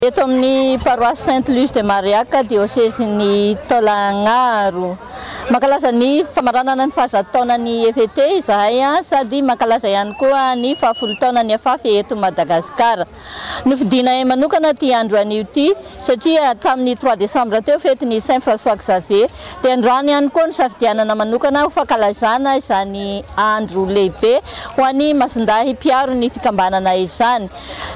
Eto amin'ny Paroisse Sainte Luce de Mariaca, Diosezin'i Taolagnaro. Mankalaza ny famaranana ny fahazato taonan'ny EVT izahay sady mankalaza ihany koa ny fahafolo taonan'ny Afaf eto Madagasikara. Nofidinay manokana ity andro anio ity satria tamin'ny trois décembre teo fetin'i Saint François Xavier dia androany ihany koa nosafidianana manokana ho fankalazana izany andro lehibe ho an'i Masindahy mpiaro ny fikambanana izany.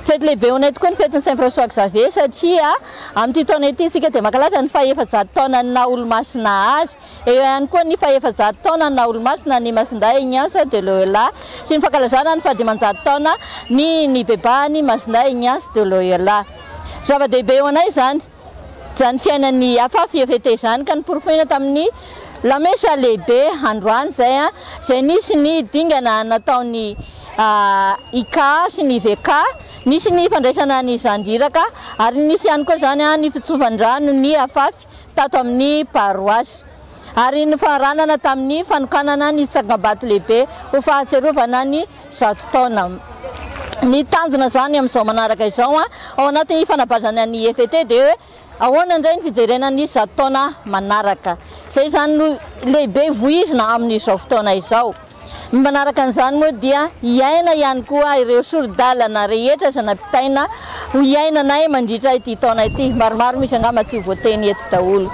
Fety lehibe ho anay tokoa ny fetin'i Saint François Xavier satria amin'ity taona ity isika dia mankalaza ny fahefajato taonan'ny naha olomasina azy. Eo ihany koa ny fahefajato taonan'ny naha olomasina an'i Masindahy Ignace de Loyola sy ny fankalazana ny fahadimanjato taona ny nibebahan'i Masindahy Ignace de Loyola. Zava-dehibe ho anay izany. Izany fiainan'ny afafy Yefete izany ka noporofoina tamin'ny lamesa lehibe androany izay, izay nisy ny dingana nataon'i Ika sy ny Veka, nisy ny fandraisana ny zandríraka ary nisy ihany koa izany ny fitsofan-drano ny afafy tato amin'ny paroasy ary nofaranana tamin'ny fanokanana ny tsangambato lehibe ho fahatsiarovana ny zato taona. Ny tanjona izany amin'izao manaraka izao ao anaty fanabazany an'i EFT dia hoe ahoana indray ny fijerena ny zato taona manaraka. Izay izany no lehibe voizina amin'izao fotoana izao. Ny manaraka an'izany moa dia hiaina ihany koa ireo sori-dalana rehetra izay nampitaina ho hiainanay mandritra ity taona ity. Maromaro misy angamba tsy ho voateny eto daholo.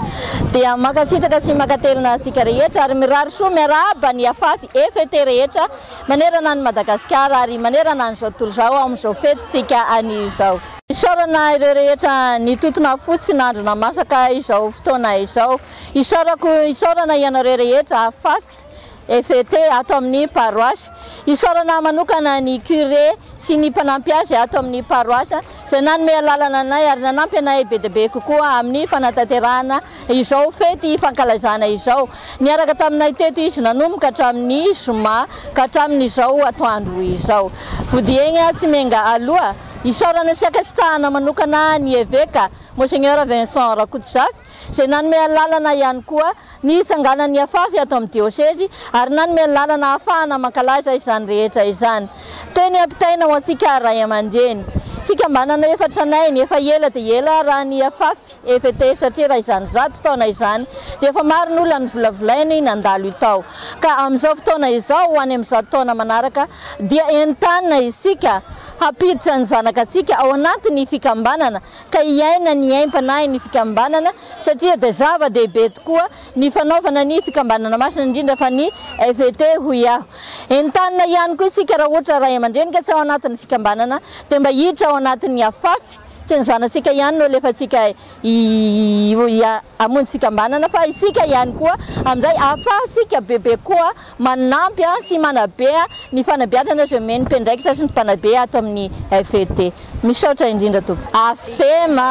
Dia mankasitraka sy mankatelina antsika rehetra ary mirary soa miarahaba ny Afafy EFT rehetra. manerana an'i Madagasikara ary manerana an'izao tontolo izao ao amin'izao fetintsika anio izao. Isaorana ireo rehetra nitotona fo sy nandrina masaka izao fotoana izao. Isaorako, isaorana ianareo rehetra fafy, FET, ato amin'ny paroasy. Isaorana manokana ny curé sy ny mpanampy azy ato amin'ny paroasy. izay nanome alalana anay ary nanampy anay be dia be kokoa amin'ny fanatanterahana izao fety fankalazana izao. Niaraka taminay teto izy nanomboka hatramin'ny zoma ka hatramin'izao atoandro izao. Vodihaigna tsy miainga aloha, isaorana sy ankasitrahana manokana ny Eveka, Monseigneur Vincent Rakotozafy, izay nanome alalana ihany koa ny hitsanganan'ny afafy ato amin'ny diosezy ary nanome alalana ahafahana mankalaza izany rehetra izany. Teny ampitaina ho antsika ray aman-dreny. Fikambanana efa tranainy, efa ela dia ela raha ny afafy, EVT, satria raha izany zato taona izany dia efa maro ny olona novolavolainy nandalo io tao. Ka amin'izao fotoana izao ho any amin'ny zato taona manaraka dia entanina isika hampiditra ny zanaka antsika ao anatin'ny fikambanana ka hiaina ny aim-panahin'ny fikambanana satria dia zava-dehibe tokoa ny fanaovana ny fikambanana masina indrindra fa ny FET hoy aho. Entanina ihany koa isika raha ohatra ray aman-dreny ka tsy ao anatin'ny fikambanana dia mba hiditra ao anatin'ny Afafy, tsy ny zanatsika ihany no alefantsika hamonjy fikambanana fa isika ihany koa, amin'izay ahafahantsika bebe koa. Manampy sy manabe ny fanabeazana izay omen'ny mpiandraikitra sy ny mpanabe ato amin'ny FET. Misaotra indrindra tompoko. Aftema.